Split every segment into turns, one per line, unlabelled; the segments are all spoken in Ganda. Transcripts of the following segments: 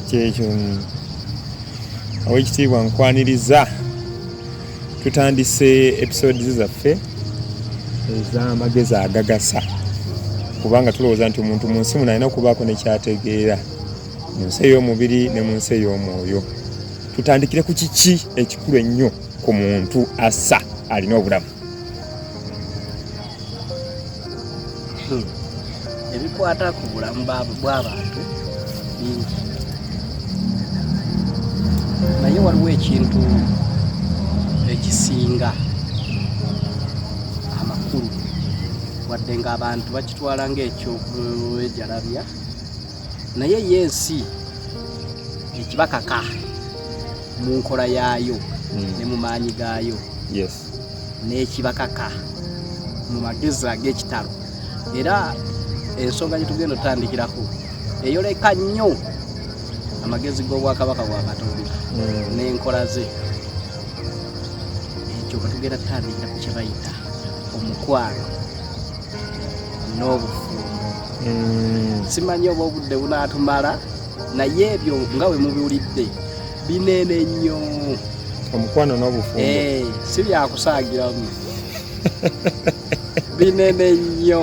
kyekyo awekitiibwa nkwaniriza tutandise episodes zaffe ez'amagezi agagasa kubanga tulowooza nti omuntu mu nsi muno alina okubaako nekyategeera mu nsi ey'omubiri ne mu nsi ey'omwoyo tutandikire ku kiki ekikulu ennyo ku muntu assa alina obulamu
Hmm. ebikwata ku bulamu bw'abantu bingi naye waliwo ekintu ekisinga amakulu wadde ng'abantu bakitwala ng'ekyokuejalabya naye ye ensi ekibakaka mu nkola yaayo hmm. ne mu maanyi gaayo yes. n'ekibakaka mu magezi ag'ekitalo era ensonga gye tugenda otutandikirako eyoleka nnyo amagezi g'obwakabaka bwa katonda hmm. n'enkola ze ekyo bwe tugenda tutandikira ku kyebayita omukwano n'obufumbo hmm. simanyi oba obudde bunaatumala naye ebyo nga we mubiwulidde binene nnyo omukwano
n'obufumbo eh, si byakusaagiramu
binene nnyo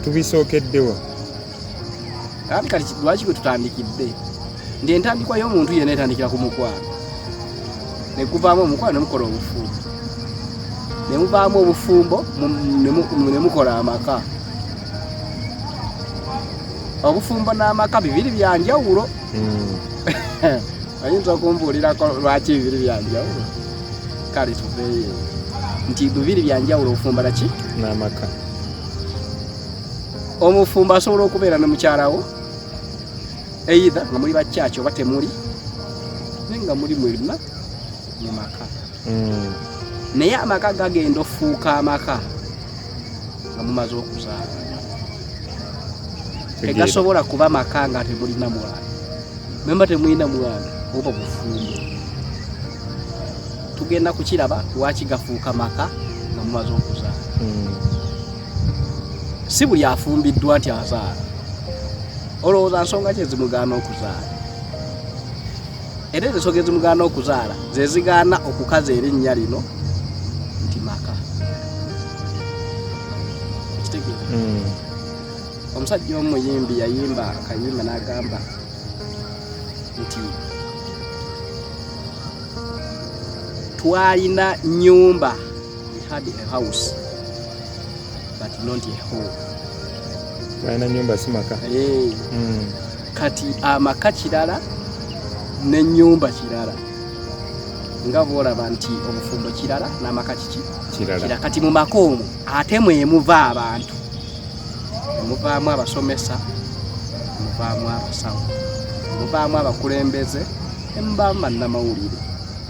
tubisookeddewa kati kati lwaki bwe tutandikidde nti entandikwa y'omuntu yena etandikira ku mukwano nekuvaamu omukwano nemukola obufumbo nemuvaamu obufumbo nemukola amaka obufumbo n'amaka bibiri byanjawulo oyinza okumbuulirako lwaki ebibiri byanjawulo kale tuveeyo nti bibiri byanjawulo ofumba naki n'amaka omufumbo asobola okubeera ne mukyalawo eitha nga muli bakyaki oba temuli naye nga muli mwena mu maka hmm. naye amaka gagenda ofuuka amaka nga mumaze okuzaala tegasobola kuba maka nga temulina mwana memba temulina mwana oba bufumbo tugenda kukiraba lwaki gafuuka maka nga mumaze okuzaala hmm. si buli afumbiddwa nti azaala olowooza nsonga kyezimugaana okuzaala era ezo ensoga ezimugaana okuzaala zezigaana okukaza erinnya lino nti maka kitegeera hmm. omusajja omuyimbi yayimba akayimba n'agamba nti twalina nyumba we had a house but not a home
twalina nyumba simaka hey. Eh. mm.
kati amaka kirala n'ennyumba kirala nga bwolaba nti obufumbo kirala n'amaka kiki kirala kati mu maka omwo ate mwemuva abantu muvaamu abasomesa muvaamu abasawo muvaamu abakulembeze emuvaamu bannamawulire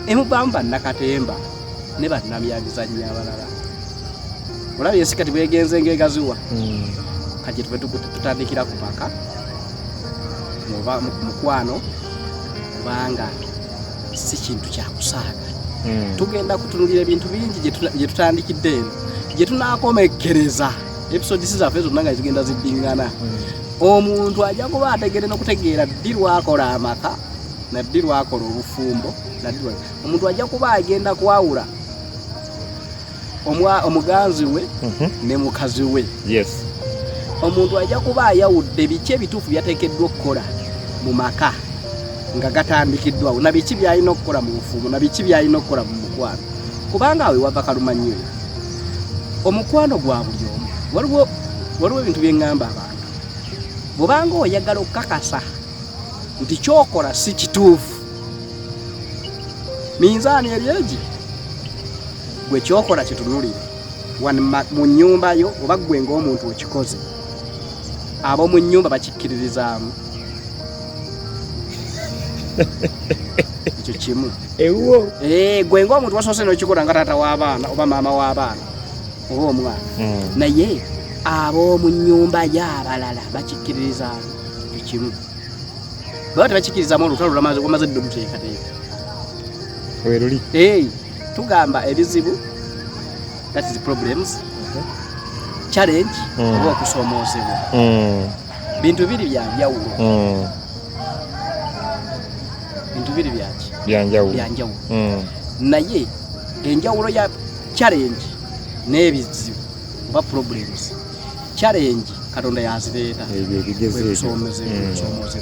emuvaamu bannakatemba ne bannamyabizannyo abalala olaba ensi kati bwegenze ngaegaziwa hmm. kati tuve tutandikira ku maka mukwano kubanga si kintu kyakusaaga hmm. tugenda kutunulira ebintu bingi gye tutandikidde eno gye tunakomekkereza episodisi zaffe zonna nga zigenda ziddingana hmm. omuntu ajja kuba ategere n'okutegeera ddi lwakola amaka naddi lwakola obufumbo naddi omuntu ajja kuba agenda kwawula omuganzi we mhm. ne mukazi we omuntu ajja kuba ayawudde biki ebituufu byateekeddwa okukola mu maka nga gatandikiddwawo na biki byalina okukola mu bufumu na biki byalina okukola mu mukwano kubanga awe wava kalumanyo yo omukwano gwa buli omu waliwo waliwo ebintu byeŋŋamba abantu bwobanga oyagala okukakasa nti kyokola si kituufu minzaani eri egi gwe kyokola kitunulire mu nyumba yo oba gwe ngaomuntu okikoze ab'omu nyumba bakikkiririzaamu ekyo kimu ewuwo eh, gwe ngaomuntu wasoose nokikola nga taata w'abaana oba maama w'abaana oba omwana hmm. naye ab'omu nyumba yo abalala bakikkiririzaamu ekimu baba tebakikirizamu olutalo lwamaze wamaze dde oluteekateeka weruli hey, tugamba ebizibu that is problems uh-huh. challenge mm. oba okusomoozebwa mm. bintu biri byanjawulo mm. bintu biri byaki byanjawulo byanjawulo mm. naye enjawulo ya challenge n'ebizibu oba problems challenge katonda yazireeta ebyobigezeebyosoomozebwa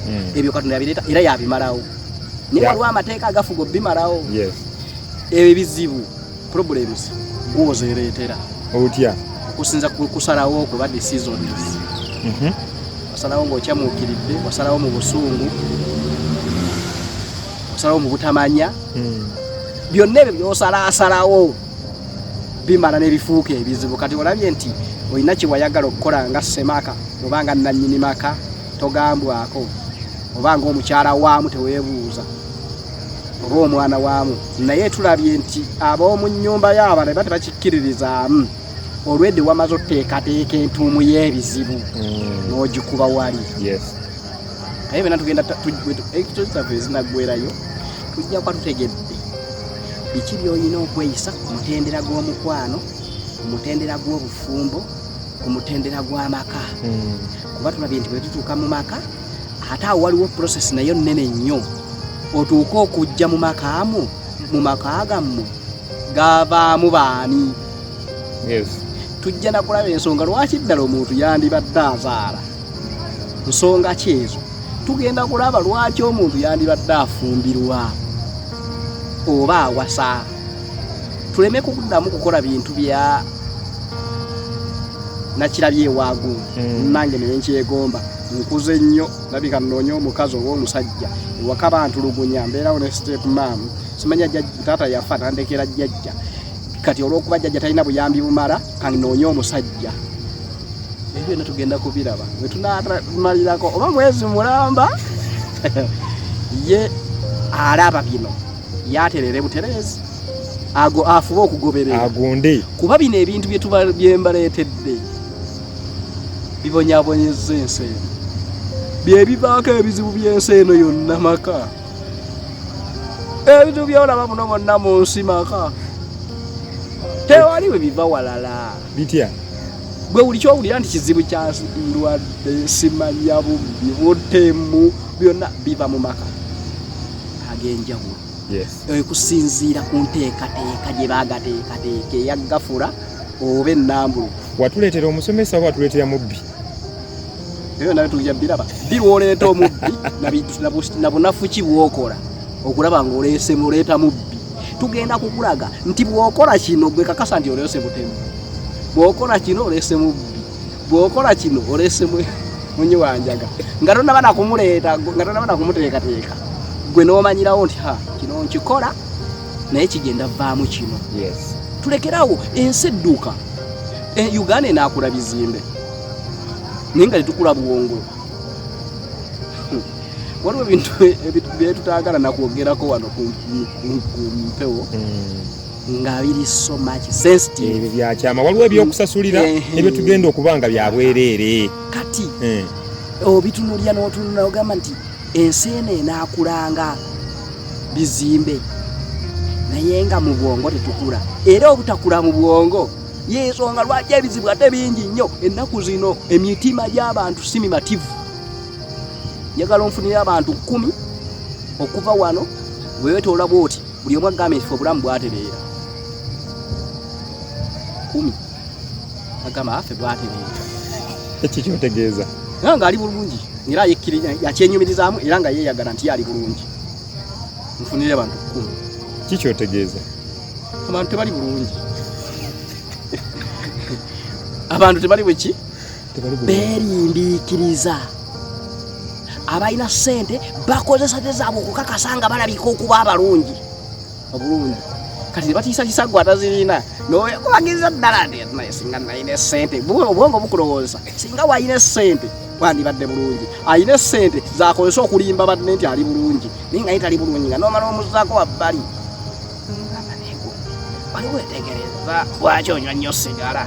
mm. ebyo katonda yabireeta era yabimalawo naye waliwo amateeka agafuga obimalawo ebyo ebizibu problems gwozereetera otya
okusinza
kusalawo okuba decisions mhm. wasalawo ngaokyamuukiridde wasalawo mu busungu wasalawo mu butamanya mm. byonna ebyo byosalasalawo bimala nebifuuka ebizibu kati olabye nti olina kyewayagala okukola nga semaka oba nga nanyini maka togambwako oba nga omukyala waamu tewebuuza oba omwana waamu naye tulabye nti ab'omu nyumba yaaba ne ba tebakikkiririzaamu olwedde wamaze oteekateeka entuumu y'ebizibu mm. n'ogikuba wali naye bena tugenda ekitozi zaffe ezinaggwerayo tujja kuba tutegedde biki by'olina okweyisa ku mutendera gw'omukwano ku mutendera gw'obufumbo ku mutendera gw'amaka hmm. kuba tulabye nti bwe tutuuka mu maka ate awo waliwo process nayo nnene nnyo otuuke okujja mu makaamu mu maka gammwe gavaamu baani tujja nakulaba ensonga lwaki ddala omuntu yandibadde azaala nsonga kyezo tugenda kulaba lwaki omuntu yandibadde afumbirwa oba awasa tuleme kuddamu kukola bintu bya nakirabye ewaagu hmm. nange naye nkyegomba nkuze nnyo labika nnoonya omukazi oba omusajja ewaka bantulugunya mbeerawo ne step mam simanya taata yafa nandekera jjajja kati olwokuba jajja talina buyambi bumala kanoonye omusajja ebyo byonna tugenda kubiraba wetunamalirako oba mwezi mulamba ye alaba bino yaterere buterezi ago afuba okugoberera agunde kuba
bino ebintu
byembaleetedde bibonyabonyeza ensi eno byebivaako ebizibu by'ensi eno yonna maka ebintu byolaba muno bonna mu nsi maka tewali bwe biva walala bitya
gwe buli
kyowulira nti kizibu kya ndwadde simanya bubbi butemu byonna biva mu maka ag'enjawulo ekusinziira ku nteekateeka gye bagateekateeka eyagafula oba enambuluku watuleetera omusomesa
oba watuleetera mubbi
ebyo nawe tujja biraba biwoleeta omubbi nabunafu ki bwokola okulaba nga oleese muleeta mubbi tugenda kukulaga nti bwokola kino gwe kakasa nti oleese butemu bwokola kino oleese mubbi bwokola kino oleese munyi wanjaga nga tonaba nakumuleeta nga tonaba nakumuteekateeka gwe nomanyirawo nti ha kino nkikola naye kigenda vaamu kino tulekerawo ensi edduuka e, uganda enakula bizimbe naye nga tetukula bwongo hmm. waliwo ebintu byetutagala nakwogerako wano ku mpewo hmm. nga biri so much sensitive byakyama waliwo
ebyokusasulira hmm. eh, ebyo tugenda okuba nga byabwereere kati
eh. obitunulya notunula ogamba nti Ensi eno enaakulanga bizimbe naye nga mu bwongo tetukula era obutakula mu bwongo yensonga lwaki ebizibu ate bingi nnyo ennaku zino emitima gy'abantu si mimativu njagala onfunira abantu kkumi okuva wano wewetoola bwoti buli omu agamba ekifo obulamu bwatereera kumi agamba affe bwati bintu ekyo
kyotegeeza era nga ali bulungi
era yakyenyumirizaamu era nga yeeyagala nti yaali bulungi nfunire bantu kumi kikyotegeeza
abantu
tebali bulungi abantu tebali bweki beerindiikiriza abalina ssente bakozesa te zaabwe okukakasa nga balabika okuba abalungi obulungi kati nebatiisatiisa gwe atazirina noyekubagiriza ddala nti naye singa nalina esente obwongo bukulowooza singa walina esente wandibadde bulungi alina esente zakozesa okulimba badde nti ali bulungi naye nga ye tali bulungi nga nomala omuzaako wabbali waliwo etegereza lwaki onywa nnyo sigala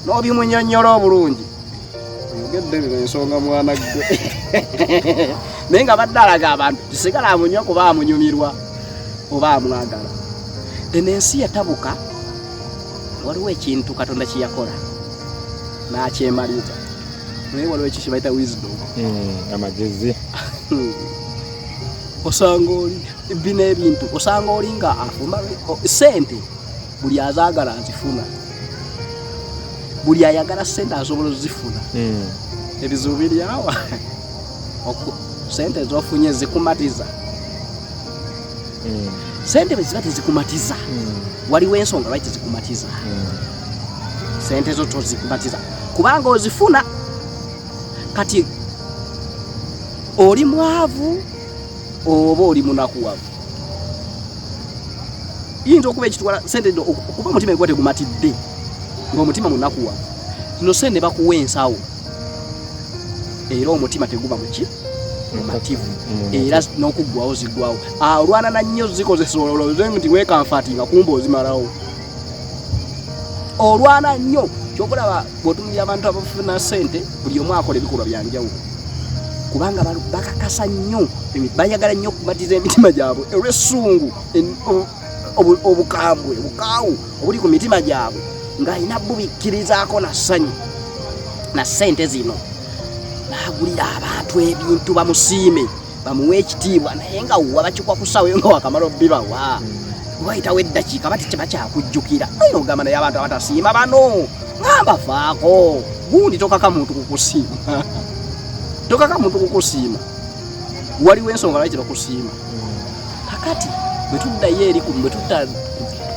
nobimunyonyola obulungi oyogedde bino ensonga mwana gwe naye nga badde alaga abantu tisigala amunywa kuba amunyumirwa oba amwagala eno ensi yatabuka waliwo ekintu katonda kyeyakola nakyemaliza naye waliwo ekyo kyebayita wisdom hmm, amagezi
hmm.
osanga oli bino ebintu osanga oli nga afumba sente buli azaagala azifuna buli ayagala sente asobola ozifuna hmm. ebizibu biryawa sente ezofunye zikumatiza hmm. sente beziba tezikumatiza hmm. waliwo ensonga lwaki tezikumatiza sente ezo tozikumatiza kubanga ozifuna kati oli mwavu oba oli munakuwavu yinza okuba ekitwala sente no okuba omutima egwa tegumatidde ngaomutima munakuwa no sente bakuwa ensawo era omutima teguba muki mumativu era n'okuggwawo ziggwawo alwana na nnyo zikozesa ololoze nti wekanfati nga kumba ozimalawo olwana nnyo kyokulaba bwotunulira abantu abafuna sente buli omu akola ebikolwa byanjawulo kubanga bakakasa nnyo bayagala nnyo okumatiza emitima gyabwe olwesungu obukambwe obukaawu obuli ku mitima gyabwe ng'alina bubikkirizaako na ssanyu na sente zino n'agulira abantu ebintu bamusiime bamuwa ekitiibwa naye nga wa bakikwa ku ssaawa eyo nga wakamala obibawa hmm. wayitawo eddakiika bati kye bakyakujjukira ayina okugamba naye abantu abatasiima bano nga mbafaako gundi tokaka muntu kukusiima tokaka muntu kukusiima waliwo ensonga lwaki tebakusiima hmm. kakati bwe tuddayo eri bwe tudda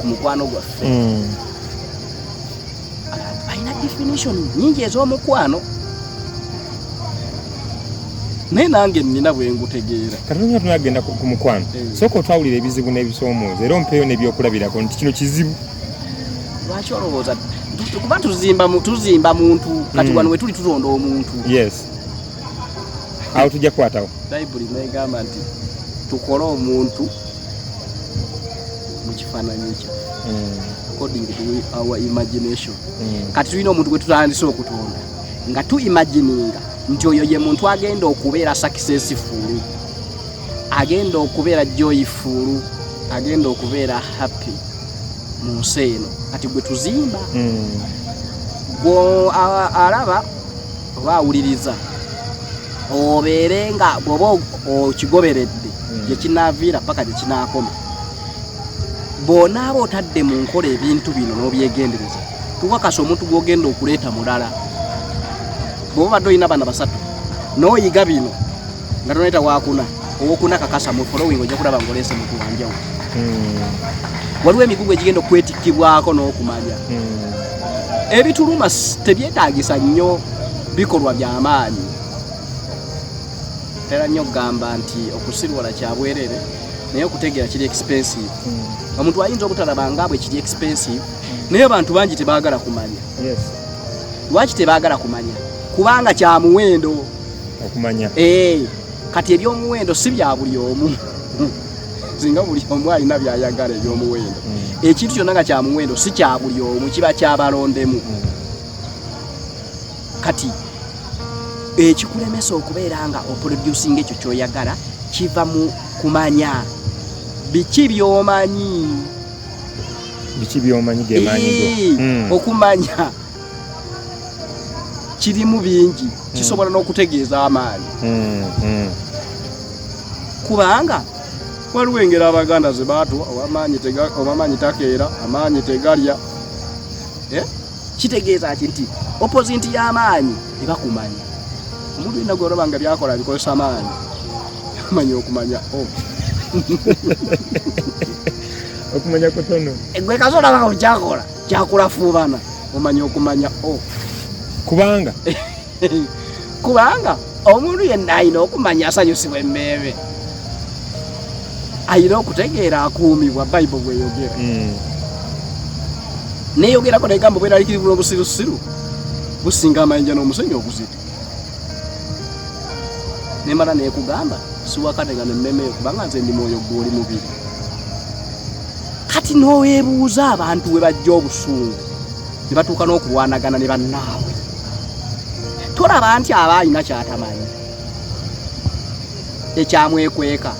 ku mukwano gwaffe hmm. alina definition nyingi ez'omukwano naye nange nina bwengutegeera katonda tuna agenda ku
mukwano eh. sooka otwawulira ebizibu n'ebisomooza era ompeeyo n'ebyokulabirako nti kino kizibu lwaki
olowooza kuba tuzimba tuzimba muntu kati hmm. wano wetuli tutonda omuntu yes
awo tujja kukwatawo bayibuli negamba
nti tukole omuntu mu kifaananyi kya hmm. according to our imagination hmm. kati tulina omuntu gwe tutandise okutonda nga tu imagininga nti oyo ye muntu agenda okubeera sakisesi fuulu agenda okubeera joyi fuulu agenda okubeera happy mu nsi eno kati gwe tuzimba hmm. gwe alaba oba awuliriza obeere nga bwoba okigoberedde hmm. gyekinaaviira paka gyekinaakoma bwonaaba otadde mu nkola ebintu bino n'obyegendereza tukakasa omuntu gwogenda okuleeta mulala bwoba badde olina bana basatu n'oyiga bino nga tonayita wakuna owokuna kakasa mu following ojja kulaba ngaoleese muntu wanjawo hmm. waliwo emigugu egigenda okwetikkibwako n'okumanya hmm. ebituluma tebyetaagisa nnyo bikolwa byamaanyi tera nnyo okugamba nti okusirwala kyabwerere naye okutegeera kiri expensive hmm. omuntu ayinza obutalaba nga bwe kiri expensive naye abantu bangi tebagala kumanya lwaki tebagala kumanya kubanga kyamuwendo okumanya
eh,
kati ebyomuwendo si bya buli omu singa buli omu alina byayagala ebyomuwendo hmm. ekintu kyonna nga kyamuwendo si kya buli omu kiba kyabalondemu hmm. kati ekikulemesa okubeera nga oproducinga ekyo kyoyagala kiva mu kumanya biki byomanyi
biki byomanyi gemaanyi hmm. okumanya
kirimu bingi hmm. kisobola n'okutegeeza amaanyi hmm, hmm. kubanga waliwo engeri abaganda ze baatuwa amaanyi takeera amaanyi tegalya eh? kitegeeza ki nti oposinti y'amaanyi ebakumanya omuntu yena gweolaba nga byakola bikozesa amaanyi amanya okumanya oh.
okumanya kutono gwe kasolaba
kukyakola kyakula fuubana omanya okumanya o oh. kubanga kubanga omuntu yenna alina okumanya asanyusibwa emmeeme alina okutegeera akuumibwa bayibuli bweyogera hmm. neyogerako negamba bweralikiribula obusirusiru businga amayinja n'omusenyi oguzita nemala nekugamba siwakane nga nemmemeyo kubanga nze ndi mwoyo gwoli mubiri kati nowebuuza abantu we bajja obusungu ne batuuka n'okulwanagana ne bannaawe tolaba nti aba alina kyatamanyi ekyamwekweka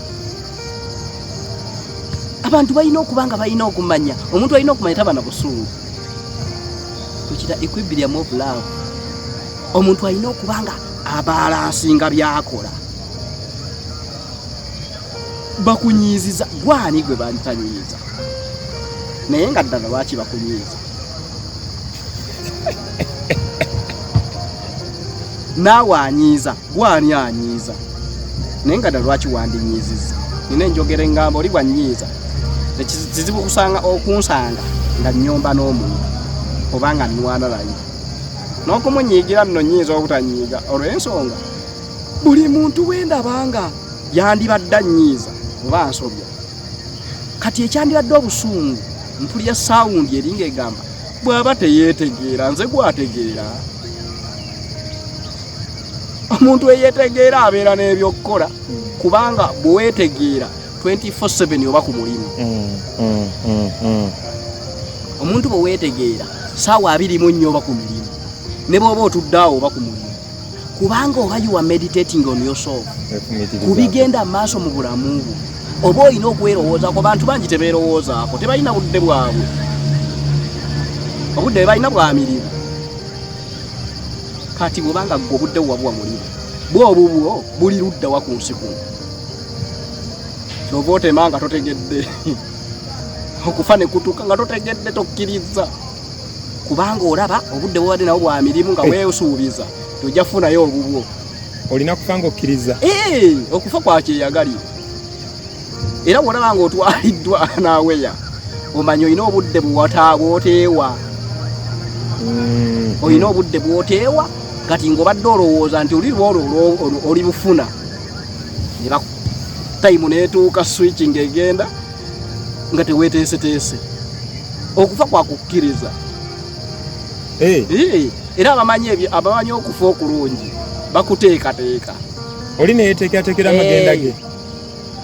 abantu balina okuba nga balina okumanya omuntu alina okumanya taba na busungu tukira equilibrium of love omuntu alina okuba nga abalansinga byakola bakunyiiziza gwani gwe bantanyiiza naye nga ddala lwaki bakunyiiza naawe anyiiza gwe ani anyiiza naye nga ddala lwaki wandinyiizizza nina enjogera engamba oli bwanyiiza kizibu kusanga okunsanga nga nyomba n'omuntu oba nga nwana naye n'okumunyiigira nno nyinza obutanyiiga olw'ensonga buli muntu wendabanga yandibadde annyiiza oba nsobya kati ekyandibadde obusungu mpulira sawundi eringa egamba bw'aba teyeetegeera nze gwategeera omuntu eyetegeera abeera n'ebyokukola kubanga bwewetegeera 24/7 oba ku mulimu mm, mm, mm, omuntu bwewetegeera saawa abiri mu nnyo oba ku mirimu ne bwoba otuddaawo oba ku mulimu kubanga oba yuwa meditating on yourself ku bigenda maaso mu bulamu bwo oba olina okwerowoozaako bantu bangi tebeerowoozaako tebalina budde bwabwe obudde bebalina bwa mirimu kati bwobanga gwe obudde wabuwa mulimu bwobubwo buli ludda wa ku nsi kuno kyova otema nga totegedde okufa ne kutuuka nga totegedde tokkirizza kubanga olaba obudde bwobadde nawo bwa mirimu nga eh. wesuubiza tojja kufunayo obubwo olina kufa
nga okkiriza eh, okufa
kwakyeyagalira era bwolaba nga otwaliddwa naweya omanyi olina obudde bwoteewa mm. olina obudde bwoteewa kati ngaobadde olowooza nti oli lwolo oli bufuna tayimu netuuka switching egenda nga teweteeseteese okufa kwakukkiriza eh. era abamanyi ebyo abamanyi okufa okulungi bakuteekateeka oli
neyeteekateekera amagenda ge eh.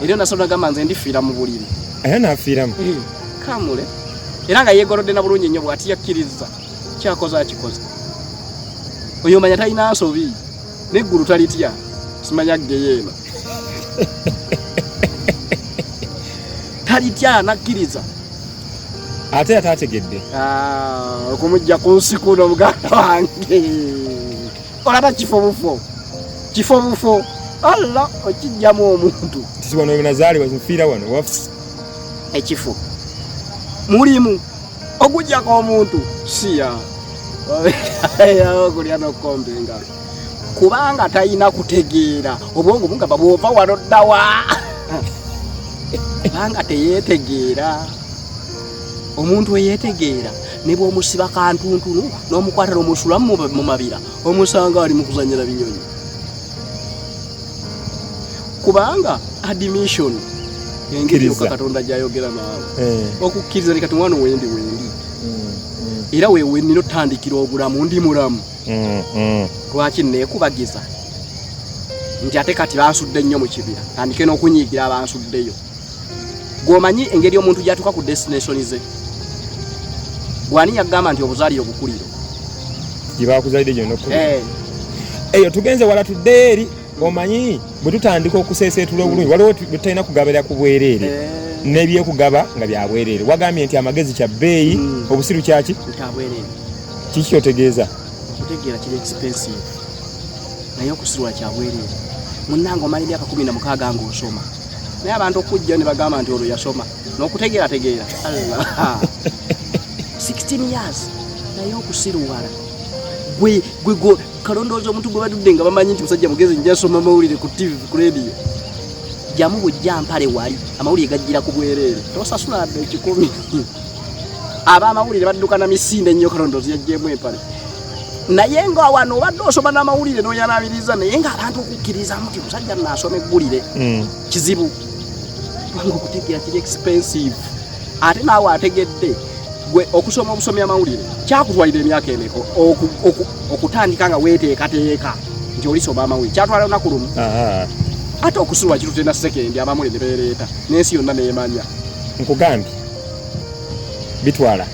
era nasobola
gamba nze ndifiira mu buliri era nafiiramu
eh, kamule
era nga yegolodde na bulungi nnyo bwati yakkiriza kyakoze akikoze oyo manya talina nsobi neggulu talitya simanya geyeema talitya nakkiriza
ate yatategedde ah,
okumujja ku nsiku n'omuganda wange olaba kifo bufo kifo bufo alla okijjamu omuntu tisiwano wenazaalibwa
nfiira wano waf ekifo
mulimu okujjako omuntu siya okulya nokukomba engalo kubanga talina kutegeera obwongo bungamba bwova wano ddawa kubanga teyeetegeera omuntu eyeetegeera ne bw'omusiba kantuntunu n'omukwata n'omusula mu mabira omusanga ali mu kuzanyira binyonyi kubanga admission engeri yoka katonda gyayogera naawe eh. okukkiriza ni kati mwana wendi wendi mm, mm. era wewe nina otandikira obulamu ndi mulamu mm, lwaki nekubagiza nti ate kati bansudde nnyo mu kibira tandike n'okunyiigira abansuddeyo gwomanyi engeri omuntu gyatuka ku destination ze gwani yagamba nti obuzaliro bukuliro
gyebakuzalide gyonoku eh. eyo tugenze wala tuddeyo eri omanyi bwe tutandika okuseeseetula obulungi waliwo tutalina kugabira ku bwereere eh. nebyokugaba nga byabwereere wagambye nti amagezi kya bbeeyi hmm. obusiru kyaki
kiki kyotegeeza
okutegeera kiri
expensive naye okusirwa kyabwereere munnange omala emyaka kumi na mukaaga ngaosoma naye abantu okujja ne bagamba nti olwo yasoma n'okutegeera tegeera allah 16 years naye okusiruwala gwe gwe gwe kalondooza omuntu gwe badudde nga bamanyi nti musajja mugezi njasoma mawulire ku tv ku radio jamu bujja mpale wali amawulire gajjira ku bwereere tosasula adde ekikumi aba amawulire badduka na misinde nnyo kalondoozi yajjeemu empale naye nga wano obadde osoma n'amawulire n'oyanabiriza naye nga abantu okukkirizamu nti omusajja naasoma eggulire hmm. kizibu kubanga okutegeera kiri expensive ate naawe ategedde gwe okusoma obusomya amawulire kyakutwalira emyaka emeka okutandika nga weteekateeka nti olisoma amawulire kyatwala lunaku lumu ate okusuwa kirutena sekendi abamuli ne beereeta n'ensi yonna neemanya nkugambye
bitwala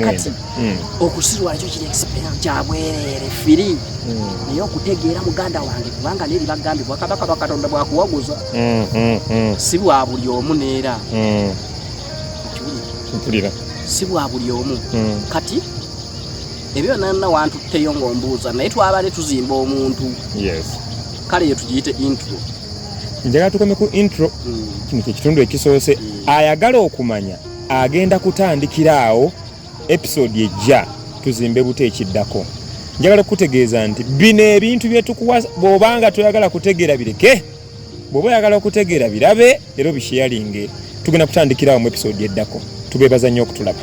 kati hmm. okusirwala
kyo kiri ekisipeera kyabwereere firi hmm. naye okutegeera muganda wange kubanga neeri bagambye bwakabaka bakatonda bwakuwaguza hmm, si bwa buli omu neera mpulira
si bwa buli
omu kati ebyo nanna wantutteyo ngaombuuza naye twabadde tuzimba omuntu kale yo tugiyite intro njagala
tukome ku intro mm. kino kyekitundu ekisoose mm. ayagala okumanya agenda kutandikira awo episode ejja tuzimbe buto ekiddako njagala okutegeeza nti bino ebintu byetukuwa bwobanga toyagala kutegeera bireke bwoba oyagala okutegeera birabe era obisheyalinge tugenda kutandikirawo mu episode eddako tubebaza nnyo okutulaba